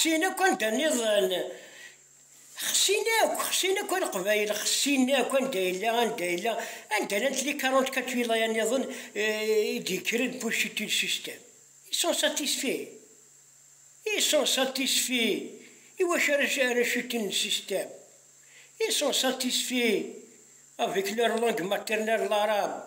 Xsin akk anda nniḍen, xsin akk, xsin akk a Leqbayel, xsin akk anda yella, anda yella, anda llant les quarante-quatre wilaya nniḍen i d-yekkren Buciti le système. Ils sont satisfaits. Ils sont satisfaits. Iwacu ara cutin le système? Ils sont satisfaits avec leur langue maternelle l'arabe.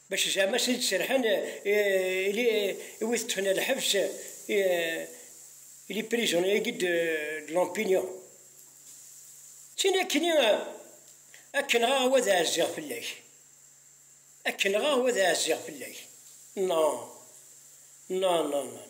Bac zeɛma s d-serḥen i wid ṭṭfen ar lḥebs, les prisonniers de l'opinion. D tin akkenni ad k-nɣeɣ wa d ɛezziɣ fell-ak, ad k-nɣeɣ wa d ɛezziɣ fell-ak. Non, non, non, non.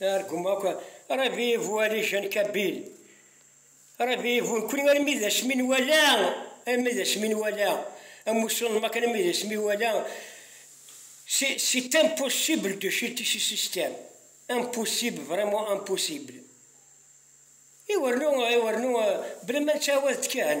Argumaqa ravivu alijan kabil ravivu nekni armi d asmi nwala armi d asmi nwala amussu n Makan armi d asmi wala c'est impossible de chuter ce système impossible vraiment impossible iwernu iwernu bla ma nettɛawad-d kan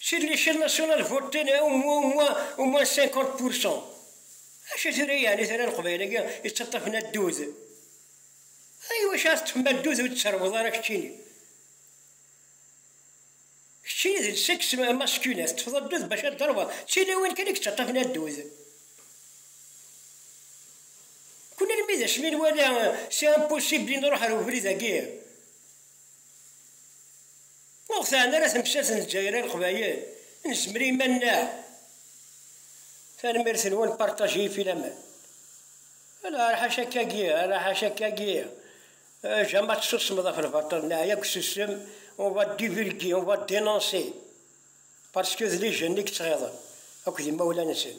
Si Licence Nationale voté ne au moins au moins au moins 50 pour 100 Acu tura yeɛni tura leqbayel-agi yettaṭṭafen addud? A iwacu ara teṭṭfem addud ur d-tserrweḍ ara keččini? Keččini d lseks masculin teṭṭfeḍ addud bac ad d-terweḍ d tilawin kan i yettaṭṭafen addud. Kkun almi d asmi nwala c'est impossible i nruḥ ar ubrid-agi Ur ɣ-teɛni ara temsalt n Lezzayer i Leqbayel, nezmer i yiman-nneɣ. Tanemmirt-nwen, partager filaman. Ala, ara ḥaca akkagi, ara ḥaca akkagi. Jama tessusmeḍ ɣef lbaṭel, neɛya deg ususem, on va divulguer, on va dénoncer. Parce que d lijen i yettɣiḍen, akked imawlan-nsen.